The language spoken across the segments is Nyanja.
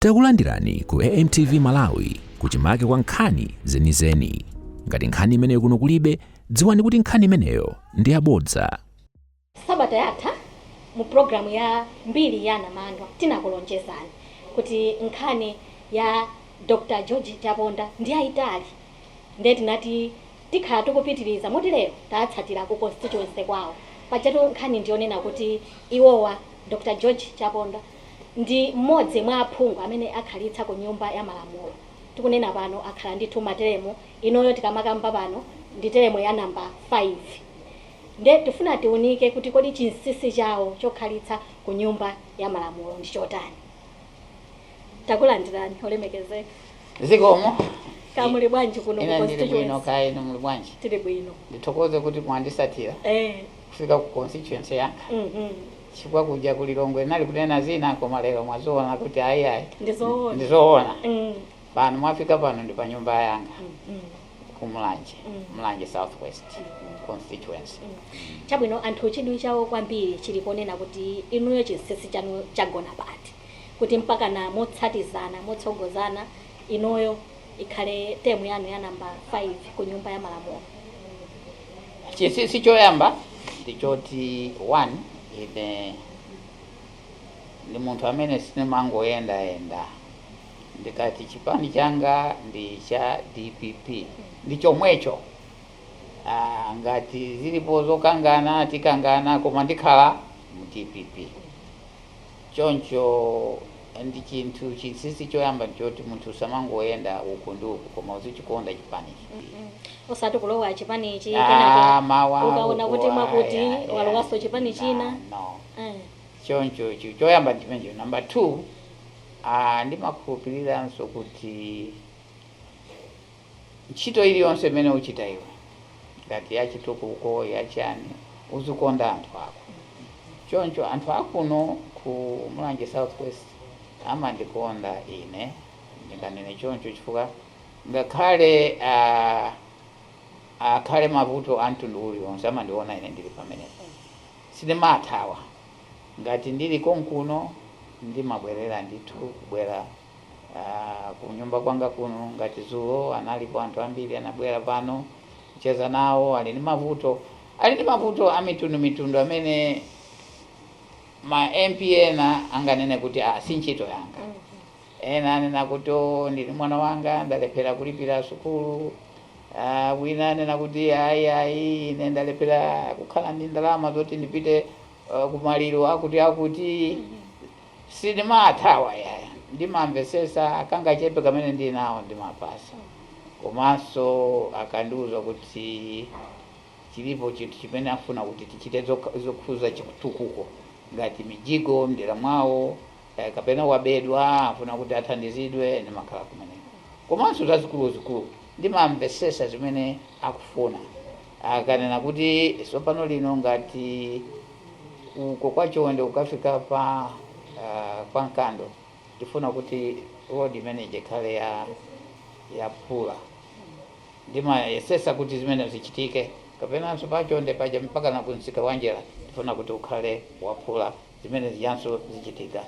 Takulandirani ku AMTV Malawi kuchimake kwa nkhani zenizeni. Ngati nkhani imeneyo kuno kulibe, dziwani kuti nkhani imeneyo ndi yabodza. Sabata yatha mu programu ya mbiri ya anamandwa tinakulonjezani kuti nkhani ya Dr. George Chaponda ndi yayitali ndiye tinati tikhala tikupitiriza moti lero tatsatira ku constituency kwawo pajatu nkhani ndiyonena kuti iwowa Dr. George Chaponda ndi m'modzi mwa aphungu amene akhalitsa ku nyumba ya malamulo tikunena pano akhala ndithu ma teremu inoyo tikamakamba pano ndi teremu ya number 5 nde tifuna tiunike kuti kodi chinsisi chawo chokhalitsa ku nyumba ya malamulo ndi chotani takulandirani olemekezeka Zikomo. kaya muli bwanji kuno ku Ine ndili bwino constituency kaya inu muli bwanji. tili bwino Ndithokoze kuti mwandisatira eh kufika ku constituency yanga. mhm chifukwa kuja ku Lilongwe ndinali kunena zina koma lero mwaziona kuti ayi ayi Ndizoona. ndizoona Mm. pano mwafika pano ndi pa nyumba yanga Mm. ku Mulanje Mm. Mulanje Southwest constituency Chabwino anthu chidwi chawo kwambiri chili ponena kuti inuyo chinsinsi chanu chagona pati kuti mpaka na motsatizana motsogozana inuyo ikhale temu yanu ya namba 5 ku nyumba ya malamulo. Chinsinsi choyamba ndi choti one, ine ndi munthu amene sindimangoyendayenda. Ndikati chipani changa ndi cha dpp ndi chomwecho. Aaa ngati zilipo zokangana tikangana koma ndikhala mu dpp. Choncho ndi chinthu chinsinsi choyamba nchoti munthu usamangoyenda uku ndi uku koma uzichikonda chipanichi mm osati kulowa chipani ichi kenaka ah, mawa ukaona kuti mwakuti walowaso chipani china no. eh. choncho choyamba ndichimenecho number 2 ah, ndimakhulupiriranso kuti Ntchito iliyonse imene uchita iwe, ngati ya chitukuko, ya chani, uzikonda anthu ako. Choncho anthu a kuno ku Mulanje South West amandikonda ine, ndinganene choncho chifukwa ngakhale a akhale mavuto a mtundu uliwonse amandiona ine ndili pamenepo. Sindimathawa. Ngati ndili konkuno ndimabwerera ndithu kubwera Aaa kunyumba kwanga kuno ngati zulo analipo anthu ambiri anabwera pano kucheza nawo ali ndi mavuto ali ndi mavuto amitundu mitundu amene ma MP ena anganene kuti ah si ntchito yanga ena anena kuti oh ndili mwana wanga ndalephera kulipira sukulu ah wina anena kuti ayi ayi ine ndalephera kukhala ndi ndalama zoti ndipite uh, kumaliro akuti akuti Sindimaathawa yaya ndimamvesesa kangachepe kamene ndili nako ndimapasa komanso akandiuza kuti chilipo chinthu chimene afuna kuti tichite zokhuza chitukuko ngati mijigo mdera mwawo kapena wabedwa afuna kuti athandizidwe ndimakhala kumeneko komanso zazikuluzikulu ndimamvesesa zimene akufuna. akanena kuti tsopano lino ngati uko kwa chonde kukafika pa uh, kwa nkando tifuna kuti road imene ikhale ya phula ndimayesesa kuti zimene zichitike kapenanso pa chonde paja mpaka na kumsika wanjala tifuna kuti ukhale waphula zimene zijanso zichitika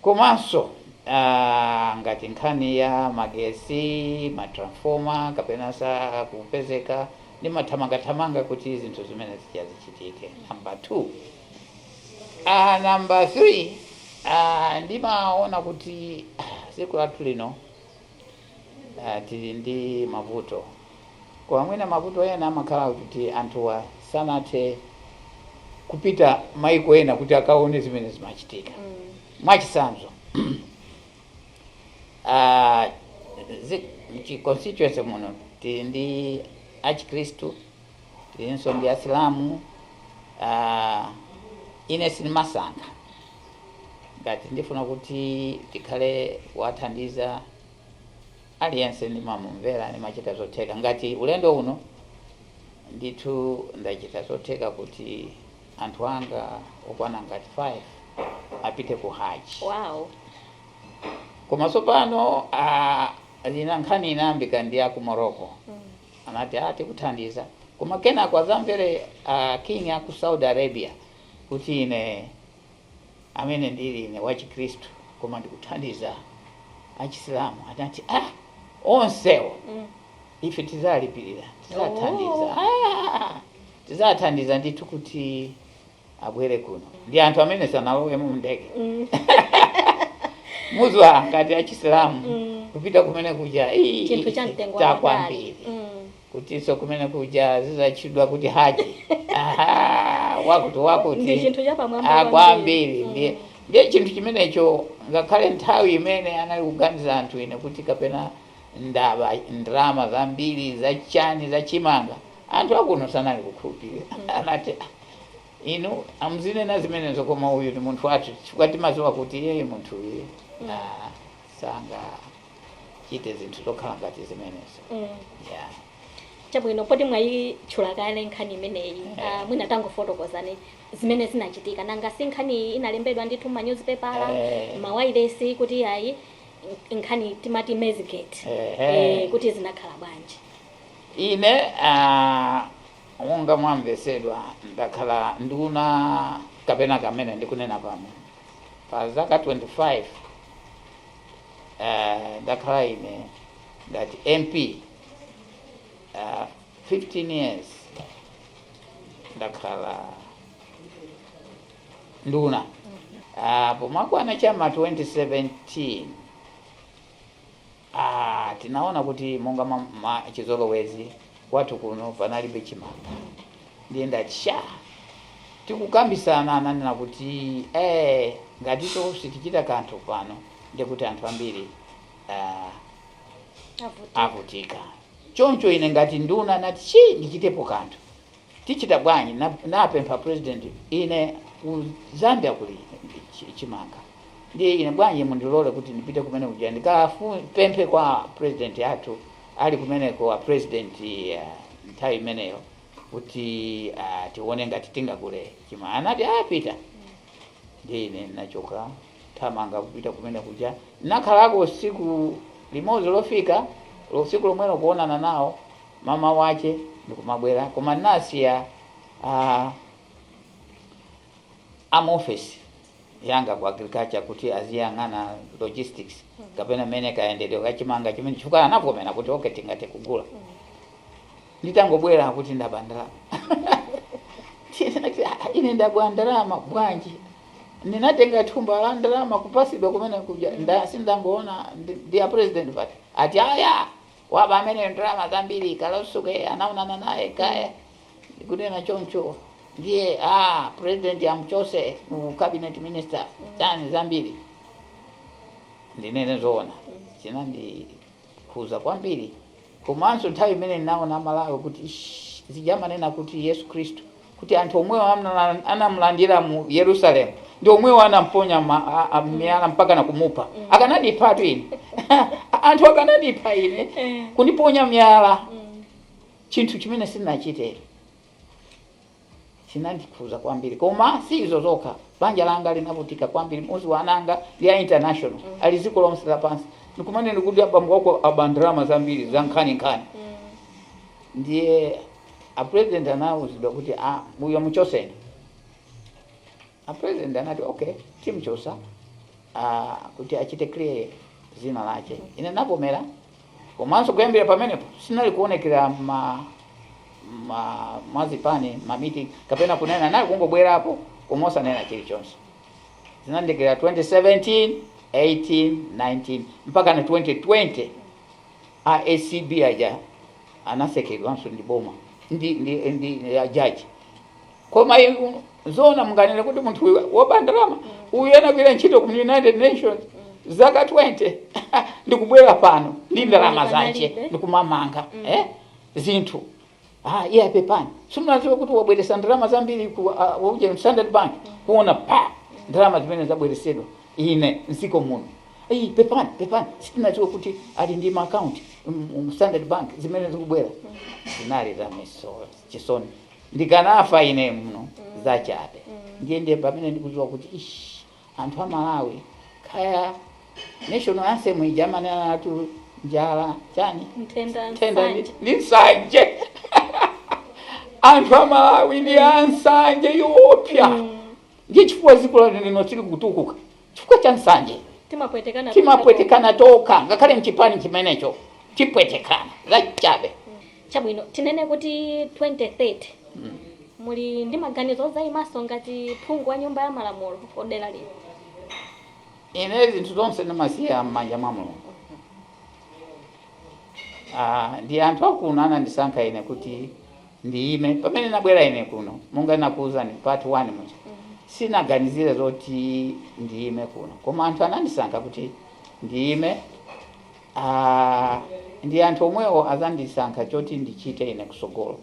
Komanso aah ngati nkhani ya magesi, ma transformer kapena sakupezeka ndimathamangathamanga kuti zinthu zimene zija zichitike number 2. Aah number 3, aah ndimaona kuti dziko lathu lino. Uh, tili ndi mavuto koma mwina mavuto ena amakhala kuti anthuwa sanathe kupita maiko ena kuti akaone zimene zimachitika mm. mwachisanzo uh, zi, constituency muno tili ndi achikristu tilinso ndi asilamu ah, ine sindimasankha ngati ndifuna kuti tikhale wathandiza aliyense ndimamumvera ndimachita zotheka ngati ulendo uno ndithu ndachita zotheka kuti anthu anga okwana ngati 5 apite ku haji wow koma tsopano ah, lina nkhani inayambika ndi aku morocco Anati, ah, tikuthandiza. Koma kenako atamva a king a ku Saudi Arabia kuti ine amene ndili ine wachikristu koma ndikuthandiza achisilamu. Anati, ah, onsewo ife tidzalipirira, tidzathandiza. Oh. Ah, tidzathandiza ndithu kuti abwere kuno ndi anthu amene sanalowemo mndege Mm. mudziwa ngati achisilamu Mm. kupita kumene kuja "Ii, chinthu cha mtengo wa patali." kwambiri Mm. kutinso kumene kuja azizatchedwa kuti haji Aha, wakuti wakuti Ndi chinthu chapamwamba Ah, kwambiri. kwambiri ndiye Mm. ndiye chinthu chimenecho ngakhale nthawi imene anali kuganiza anthu ine kuti kapena ndaba ndrama zambiri zachani zachimanga anthu akuno sanali kukhulupirira anati "Ah, Inu muzinena zimenezo koma uyu ni munthu wathu chifukwa timaziwa kuti iyeyu munthu uyu mm. ah, sangachite zinthu zokhala ngati zimenezo mm. yeah. Chabwino poti mwayitchula kale nkhani imeneyi yeah. uh, mwina tangofotokozani zimene zinachitika nanga si nkhani inalembedwa ndithu m'ma newspaper yeah. Eh. mawailesi kuti ayi nkhani timati Maizegate yeah. eh, kuti zinakhala bwanji ine uh, Monga mwamvetsedwa, ndakhala nduna kapena kamene ndikunena pano pa zaka 25 ndakhala ine ngati MP 15 years ndakhala nduna Pomakwana chama 2017 a tinaona kuti monga mwa mwa chizolowezi kwathu kuno panalibe chimanga ndiye ndati sha tikukambisana nanena kuti eh, ngati sitichita kanthu pano ndiye kuti anthu ambiri ah, avutika choncho ine ngati nduna nati chi ndichitepo kanthu Tichita bwanji na napempha president ine ku zambia kuli chimanga ndiye ine bwanji mundilole kuti ndipite kumene kuja ndikafu pemphe kwa president amene ali kumeneko a president nthawi imeneyo kuti ah tione ngati tingagule chima anati ah pita ndiye ine nachoka thamanga kupita kumene kuja nakhalako siku limodzi lofika tsiku lomwelo kuonana nawo m'mawa wache ndikumabwera koma nasiya uh, ma officer anga ku agriculture kuti aziyang'ana logistics kapena mmene kayendedwe kachimanga chimenechi chifukwa anavomera kuti okay tingathe kugula nditangobwera kuti ndaba ndalama Ndinati, "Ah, ine ndaba ndalama bwanji ndinatenga thumba la ndalama kupasidwa kumene kuja nda- sindangoonana ndi- ndi a president basi ati ayi Waba ameneyo ndalama zambiri Kaloswe anaonana naye kaya ndikunena choncho ndiye aa president amuchotse mu cabinet minister chani zambiri ndinene zoona chinandikhuza kwambiri komanso nthawi imene ndinaona amalawi kuti ish zija amanena kuti yesu khristu kuti anthu omwewo anamulandira mu Yerusalem ndi omwewo anamponya ma- a- a- miyala mpaka na kumupha akanandiphatu ine anthu akanandipha ine kundiponya miyala chinthu chimene sindinachite chinandikhuza kwambiri koma si izo zokha banja langa linavutika kwambiri mudziwa ana anga ndi a international ali dziko lonse lapansi ndikumane ndikuti abambo wako aba ndalama zambiri za nkhaninkhani ndiye A president anauzidwa kuti a uyo muchoseni. A president anati okay timchosa kuti achite clear zina lache. Ine ndinavomela komanso kuyambira pamenepo sindinali kuonekera ma ma mwazipani ma meeting kapena kunena nali kungobwerapo koma osanena chilichonse. Zinandikira 2017, 18, 19 mpaka na 2020. A acb aja anasekedwanso ndi boma ndi ndi ndi a judge. Koma inu zoona munganene kuti munthu uyu woba ndalama uyu anagwira ntchito ku United Nations zaka 20 ndikubwera pano ndi ndalama zache ndikumamanga eh zinthu Ah, iye pepani. Sitinadziwe kuti wabweresa ndalama zambiri ku ah, wakuja mu Standard Bank kuona ndalama zimene zabweresedwa ine mdziko muno. Ii pepani, pepani. Sitinadziwe kuti ali ndi ma account mu Standard Bank zimene zikubwera. Zinali zomvetsa chisoni. Ndikanafa ine muno zachabe. Ndiye ndiye pamene ndikudziwa kuti ish Anthu a Malawi paja national anthem ija imanenatu njala chani Nthenda, nthenda ndi, nsanje. ndi nsanje anthu a Malawi ndi ansanje yoopsa ndiye chifukwa dziko lathu lino silikutukuka chifukwa cha nsanje Timapwetekana timapwetekana tokha ngakhale mchipani chimenecho tipwetekana zachabe Chabwino, tinene kuti 2030 muli ndi maganizo odzaimanso ngati phungu wa Nyumba ya Malamulo ku dera lino? Ine zinthu zonse ndimasiya m'manja mwa Mulungu. Aaa, ndi anthu a kuno anandisankha ine kuti ndiime. Pamene ndinabwera ine kuno, monga ndinakuuzani part 1 muja, sindinaganizire zoti ndiime kuno. Koma anthu anandisankha kuti ndiime. Aaa ndi anthu omwewo azandisankha choti ndichite ine kusogolo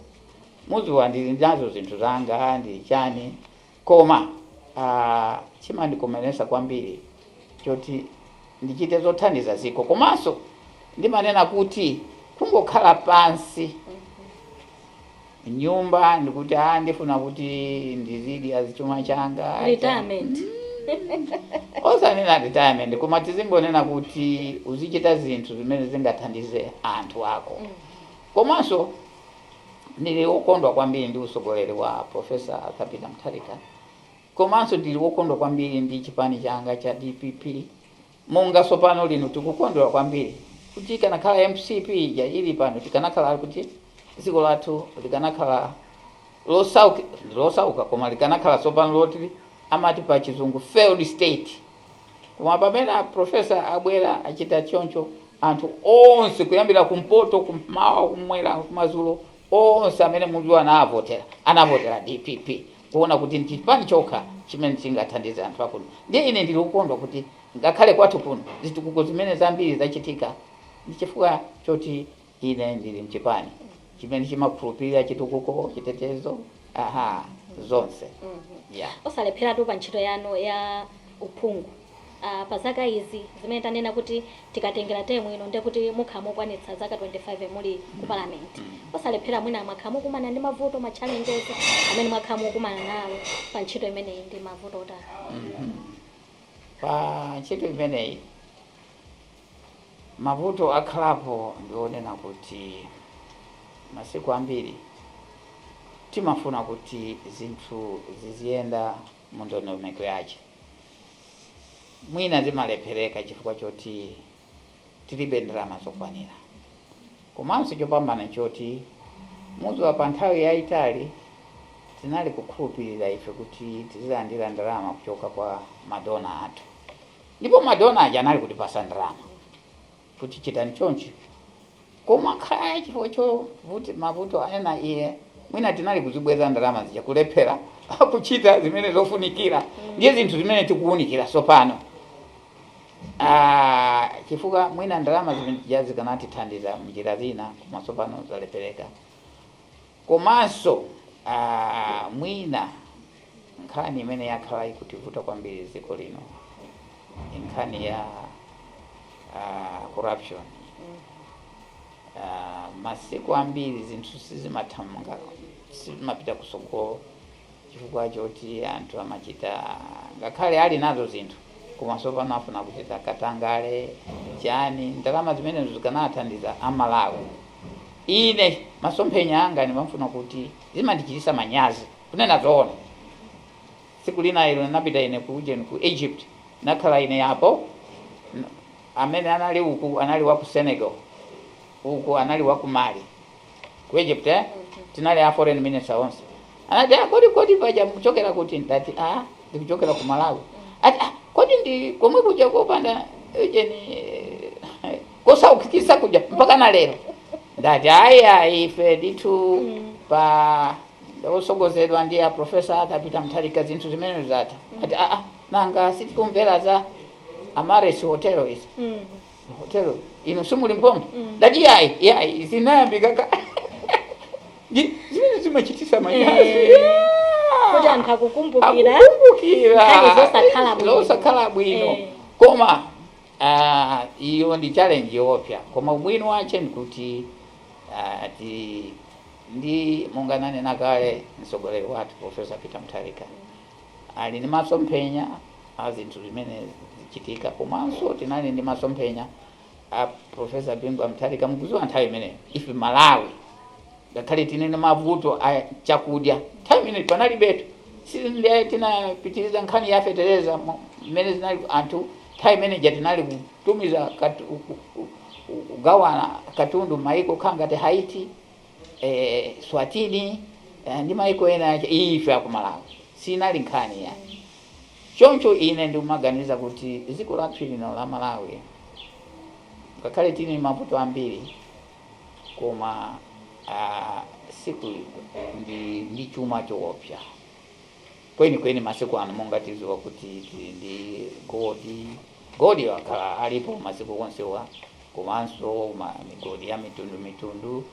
muziwa ndili nazo zinthu zanga ndili chani koma aa chimandikomeletsa kwambiri choti ndichite zothandiza ziko komanso ndimanena kuti kungokhala pansi nyumba ndikuti aa ndifuna kuti ndizidya chuma changa cha- retirement osanena retirement koma tizingonena kuti uzichita zinthu zimene zingathandize anthu ako komanso ndili wokondwa kwambiri ndi utsogoleri wa profesa Arthur Peter Mutharika komanso ndili wokondwa kwambiri ndi chipani changa cha dpp Monga sopano lino tikukondwa kwambiri kuti ikanakhala mcp ija ilipano tikanakhala kuti ziko lathu likanakhala losauka koma likanakhala sopano loti amati pachizungu failed state koma pamene a professor abwela achita choncho anthu onse kuyambila kumpoto kumawa kumwela kumazulo onse amene mudziwa anavotela anavotela dpp kuona kuti ndi chipani chokha chimene chingathandize anthu akuno ndiye ine ndili okondwa kuti ngakhale kwathu kuno zitukuko zimene zambiri zachitika ndi chifukwa choti ine ndili mchipani chimene chimakhulupirira chitukuko chitetezo aha zonse. Osalepheratu pa ntchito yanu ya uphungu. a pa zaka izi zimene tanena kuti tikatengela term ino ndiye kuti mukhala mukwanitsa zaka 25 muli ku parliament osalephera mwina mwakhala mukukumana ndi mavuto ma challenges amene mwakhala mukukumana nawo pa ntchito imeneyi ndi mavuto otani pa ntchito imeneyi mavuto akhalapo ndi onena kuti masiku ambiri timafuna kuti zinthu ziziyenda mu ndondomeko yache. Mwina zimalephereka chifukwa choti tilibe ndalama zokwanira. Komanso chopambana nchoti muziwa pa nthawi yaitali tinali kukhulupirira ife kuti tizilandira ndalama kuchoka kwa ma donor athu. Ndipo ma donor aja anali kutipasa ndalama. kuti chitani chonchi. Koma kaya chifukwa choti mavuto ena iye mwina tinali kuzibweza ndalama zija kulephera kuchita zimene zofunikira ndiye zinthu zimene tikuunikira tsopano Ah, chifukwa mwina ndalama zimene zija zikanatithandiza mnjira zina koma tsopano zalephereka Komanso aah mwina nkhani imene yakhala ikutivuta kwambiri m'dziko lino ndi nkhani ya aah corruption aah masiku ambiri zinthu sizimathamanga, sizimapita kutsogolo. chifukwa choti anthu amachita ngakhale ali nazo zinthu koma tsopano afuna kuchita katangale chani ndalama zimenezo zikanathandiza a Malawi ine masomphenya anga ndimafuna kuti zimandichitisa manyazi kunena zoona tsiku lina ilo napita ine ku ujeni ku Egypt nakhala ine apo N- amene anali uku anali wa ku Senegal uku anali wa ku Mali ku Egypt eh? tinali a foreign minister onse anati ah, kodi kodi paja mkuchokera kuti ndati ah, ndikuchokera ku Malawi ati ah, kodi ndi komwe kuja kopanda ujeni eh, kosaukitsa kuja mpaka na lero ndati ayi ife ndithu pano tsogozedwa ndi a profesa Peter Mutharika zinthu zimene zatha ati ah, ah, nanga sitikumvera za Amaryllis Hotel izi Hotel ino simuli mphongo ndati yayi yayi zinayambika ka Ndi- zimene zimachititsa manyazi Eh. Yeah. kuti anthu akukumbukira akukumbukira zosakhala bwino. zosakhala bwino Eh. koma ah, iyo ndi challenge yoopsa koma ubwino wache ndikuti ah, ti ndi monga nanena kale mtsogoleri wathu profesa peter mutharika ali ndi masomphenya a zinthu zimene zichitika komanso tinali ndi masomphenya a Professor Bingu wa Mutharika mukudziwa nthawi imeneyo ife Malawi ngakhale tinene ndi mavuto a chakudya nthawi imeneyo panalibetu sindiye tinapitiriza nkhani ya fetereza mo- mmene zinali anthu nthawi imene ija tinali kutumiza katu- ku- ku- kugawana katundu maiko kaya ngati Haiti Eswatini ndi maiko ena, ife aku Malawi siinali nkhani yayi. Choncho ine ndimaganiza kuti dziko lathu lino la Malawi ngakhale tili ndi mavuto ambiri koma aa si kuli ndi ndi chuma choopsa. Kwenikweni, masiku ano, monga tidziwa kuti tili ndi goldi, goldi wakhala alipo masiku onsewa, komanso migodi ya mitundu mitundu,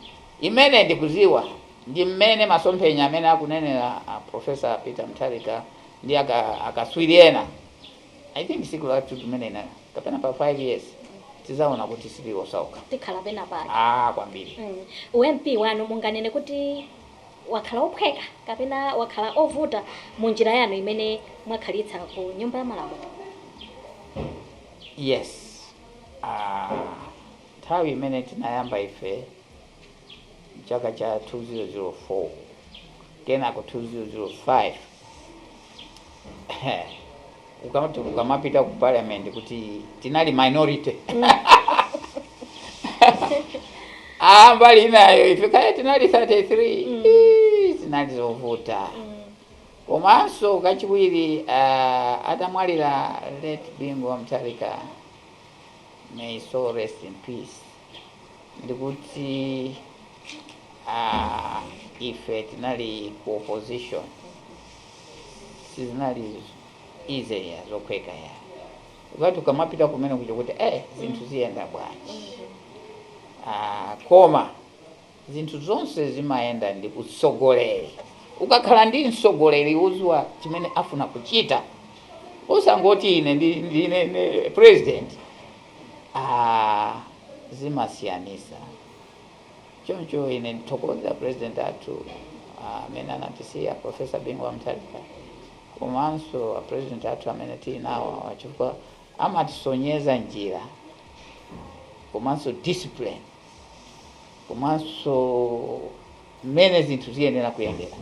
imene ndikudziwa ndi mmene masomphenya amene akunenera a Professor Peter Mutharika ndi aka akatswiri ena, I think tsiku lathu limene na kapena pa 5 years, tidzaona kuti sitili osauka. Tikhala pena pake. Aaa kwambiri. Mm. U MP wanu munganene kuti. wakhala wophweka kapena wakhala ovuta mu njira yanu imene mwakhalitsa ku nyumba ya malamulo? Yes. Aaa nthawi imene tinayamba ife chaka cha 2004 kenako 2005. ukamati ukamapita ku parliament kuti tinali minority ah mbali inayo ife kaya tinali 33 Mm. Ii, zinali zovuta Mm. komanso kachiwiri uh, atamwalira late bingu wa mtharika may soul rest in peace ndikuti aah ife tinali ku opposition sizinali easy yayi zophweka yayi ukati ukamapita kumeneko ndi kuti eh zinthu ziyenda bwanji ah koma Zinthu zonse zimayenda ndi utsogoleri. Ukakhala ndi mtsogoleri oziwa chimene afuna kuchita osangoti ine ndine president aah zimasiyanisa choncho ine ndithokoze apresident athu amene anatisiya a Professor Bingu wa Mutharika komanso apresident athu amene tili nawo awa chifukwa amatisonyeza njira komanso discipline. komanso mmene zinthu ziyenera kuyendera.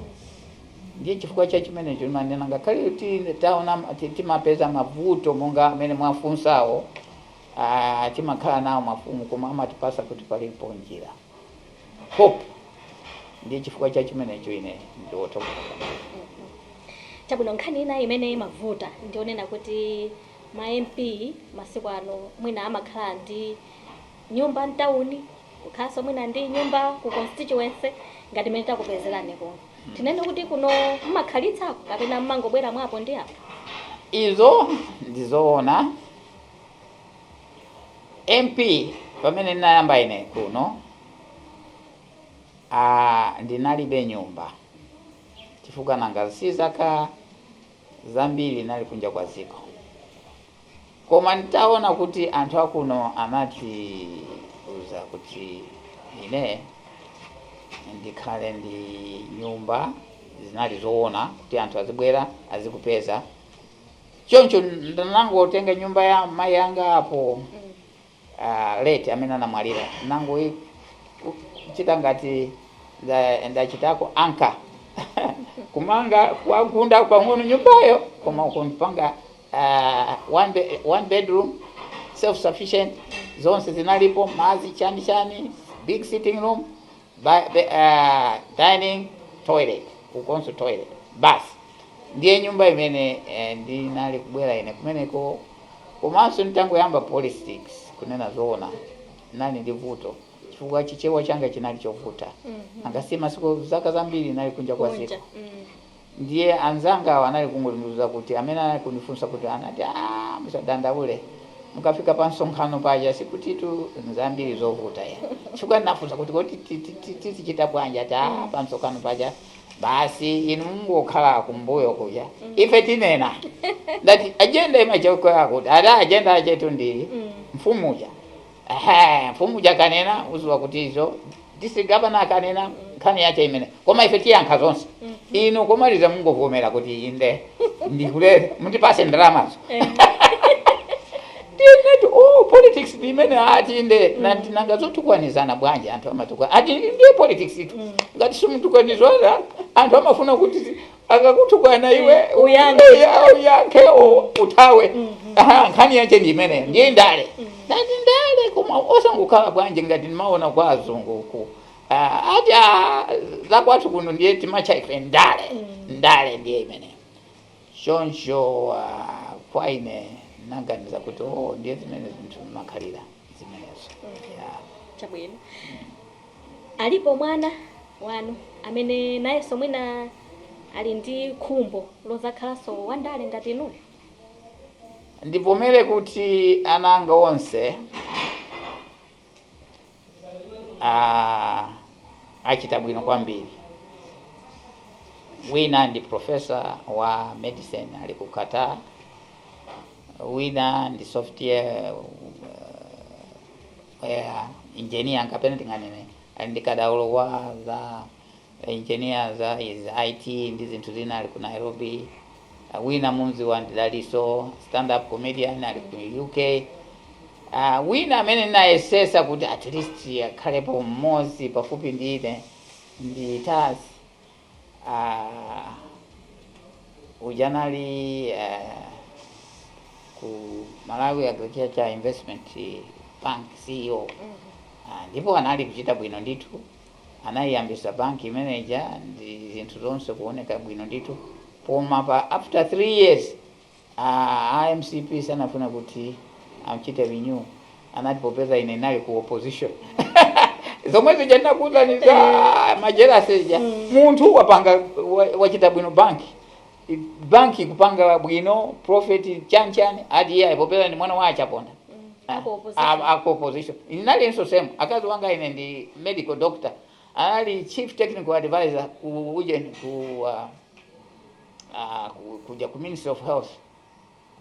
Ndiye chifukwa cha chimenecho timanena ngakhale taona ti- timapeza mavuto monga amene mwafunsawo, ah, timakhala nawo mafumu koma amatipasa kuti palipo njira hope. Ndiye chifukwa cha chimenecho ine ndiwothokoza. chabwino nkhani ina imene imavuta ndionena kuti ma mp masiku ano mwina amakhala ndi nyumba mtauni kukhalanso mwina ndi nyumba ku constituency ngati mene takupezerani kuno mm. tinene kuti kuno mmakhalitsa kapena mmangobwera mwapo ndi apo izo ndizoona mp pamene ndinayamba ine kuno ah, ndinalibe nyumba chifukwa nanga si zaka zambiri nali kunja kwa ziko. Koma nitaona kuti anthu akuno anati uza kuti ine ndikhale ndi nyumba, zinali zoona kuti anthu azibwera azikupeza. Choncho ndanangotenga nyumba ya mayi anga apo. uh, late amene anamwalira nangoichita ngati ndachitako nda anka kumanga kuigunda pang'ono nyumbayo koma kuipanga uh, one, be, one bedroom self sufficient zonse zinalipo mazi chani chani big sitting room Ba, be, ah, dining toilet ukunso toilet basi ndiye nyumba imene eh, ndinali kubwera ine kumeneko komanso nitangoyamba politics kunena zoona nali ndi vuto chifukwa chichewa changa chinali chovuta nanga si masiku zaka zambiri nali kunja kwa ziko Mm. Ndiye anzangawo anali kungondiuza kuti, amene anali kundifunsa kuti, anati, Aaa musadandaule, mukafika pa msonkhano paja sikutitu n'zambiri zovuta ya. Chifukwa ndinafunsa kuti, kodi tizichita bwanji? Ati, Aaa pa msonkhano paja basi inu mungokhala kumbuyo kuja, ife tinena. Ndati, ajenda imachokera kuti? Ati, Ajenda yathu ndi mfumu uja. Aha, mfumu uja akanena uziwa kuti izo district governor akanena nkhani yache imene koma ife tiyankha zonse inu komaliza mungovomera kuti inde ndikulola mutipase ndalamazo tinati oh politics ndi imene ati inde nanti nanga zotukwanizana bwanji anthu amatukwa ati ndiye politicsitu ngati simutukwanizana anthu amafuna kuti akakutukwana iwe Eh, uyankhe. uya- uyankhe u- uthawe Aha, nkhani yache ndi imeneyo ndiye ndale ati ndale koma osangokhala bwanji ngati timaona kwa azungu uku Ah, ati ah, zakwathu kuno ndiye timatcha ife ndale ndale ndiye imeneyo choncho ah, kwa ine naganiza kuti oh, ndiye zimene zinthu zimakhalira zimenezo Yeah. chabwino Alipo mwana wanu amene nayenso mwina ali ndi khumbo lodzakhalanso wandale ngati inuyo? Ndivomere kuti ana anga onse achita bwino kwambiri. Wina ndi pulofesa wa medicine ali ku Qatar, wina ndi software. ya engineer kapena tinganene ali ndi kadaulo wa za engineer za izi IT ndi zinthu zina ali ku Nairobi. Uh, wina mumziwa ndi Daliso stand up comedian ali ku UK. Uh, wina amene ndinayesesa kuti at least akhalepo mmodzi pafupi ndi ine ndi Taz. Uh, uja anali uh, ku Malawi Agriculture Investment Bank CEO uh, ndipo anali kuchita bwino ndithu, anayiyambisa banki imeneja ndi zinthu zonse kuoneka bwino ndithu, koma pa after three years Aaa a mcp sanafune kuti amchite renew anati popeza ine nali ku opposition zomwe zija ndinakuuzani za ma jealousy zija munthu wapanga wa- wachita bwino bank bank ikupanga bwino profit chani chani ati iye popeza ndi mwana wa a Chaponda Ah, a ku opposition. ah, a ku opposition inalinso same akazi anga ine ndi medical doctor anali chief technical advisor ku ujeni ku ah, Ah, ku- kuja ku Ministry of Health.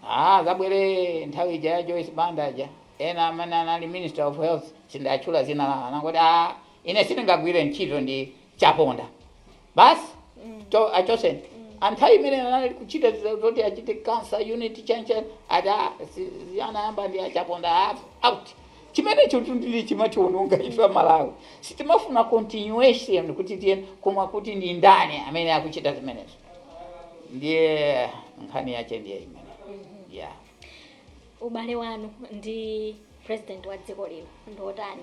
Ah, zabwera nthawi ija ya Joyce Banda aja. Ena amene anali Minister of Health sinditchula dzina lawo. Anangoti ah, ine sindingagwire ntchito ndi Chaponda. Basi cho achoseni. Panthawi imene anali kuchita ziza- zoti achite cancer unit chani chani ati si- si- anayamba ndi Chaponda ah, out. Chimenechotu ndiye chimatiwononga ife a Malawi. Sitimafuna continuation kuti tiye koma kuti ndi ndani amene akuchita zimenezo ndiye nkhani yache ndiye imeneyo yeah. Ubale wanu ndi president wa dziko lino ndi otani?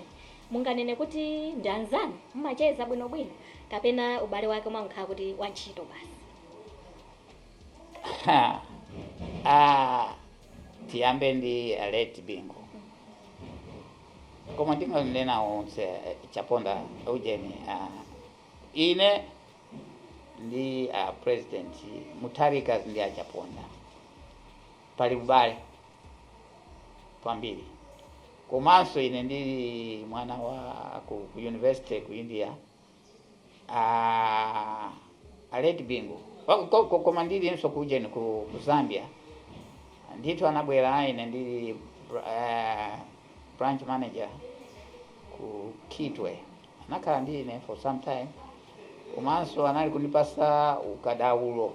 Munganene kuti ndi anzanu? Mumacheza bwinobwino? Kapena ubale wake umangokhala kuti wantchito basi? Aaa Tiyambe ndi a late Bingu koma ndinganena onse Chaponda ujeni ine ndi a president Mutharika ndi a Chaponda pali ubale kwambiri komanso ine ndili mwana wa ku ku university ku India Ah, a late Bingu Ko- ko- ko- koma ndilinso kujeni ku, ku zambia ndithu anabwera ine ndili br- eh, branch manager ku kitwe anakhala ndi ine for some time komanso anali kundipasa ukadaulo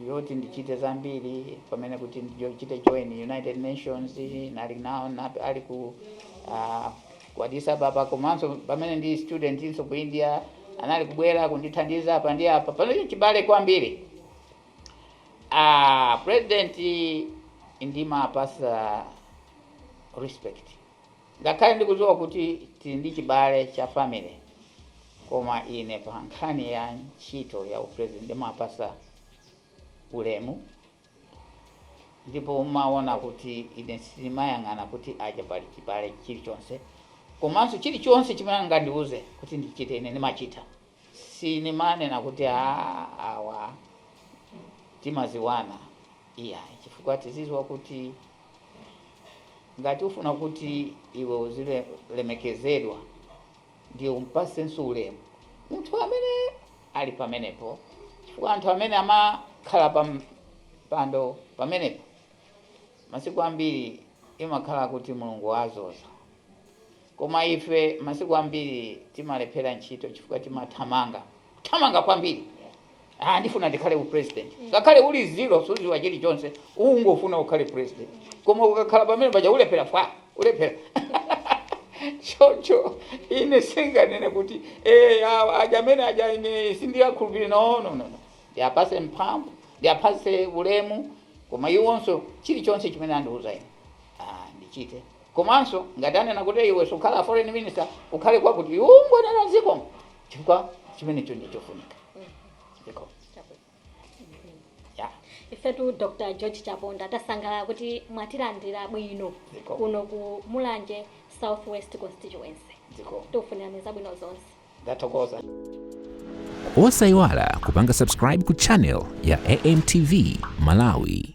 yoti ndichite zambiri pamene kuti ndichite join United Nations anali nawo nap- ali ku ah, ku Addis Ababa komanso pamene ndili studentinso ku India anali kubwera kundithandiza apa ndi apa pamene chibale kwambiri ah, president ndimaapasa respect Ngakhale ndikudziwa kuti tili ndi chibale cha family koma ine pa nkhani ya ntchito ya u president ndimaapasa ulemu ndipo umaona kuti ine simayang'ana kuti aja pali chibale chilichonse komanso chilichonse chimene angandiuze kuti ndichite ine ndimachita. Sinimanena kuti aah awa timaziwana iyayi chifukwa tiziziwa kuti ngati ufuna kuti iwe uzilemekezedwa ndiye umpasenso ulemu munthu amene ali pamenepo chifukwa anthu amene amakhala pa mpando pamenepo masiku ambiri imakhala kuti Mulungu waazoza. Koma ife masiku ambiri timalephera ntchito chifukwa timathamanga, kuthamanga kwambiri. Ah, ndifuna ndikhale u president. Ngakhale uli zero suziwa chilichonse, ungofuna ukhale president. Koma ukakhala pamene paja ulephera fwa, ulephera. Choncho ine singanene kuti eh awa aja amene aja ine sindiyakhulupirira no no no. no. Ndiyapase mphamvu, ndiyapase ulemu, koma iwonso chilichonse chimene andiuza ine. Ah, ndichite. Komanso ngati anena kuti iwe sukhala foreign minister ukhale kwakuti iwe ungonena zikomo chifukwa chimenecho ndi chofunika. Zikomo. Yeah. Ifetu Dr. George Chaponda tasangalala kuti mwatilandira bwino Zikomo. kuno ku Mulanje South West Constituency. Zikomo. Tikufunirani zabwino zonse. Ndathokoza. Osaiwala kupanga subscribe ku channel ya AMTV Malawi.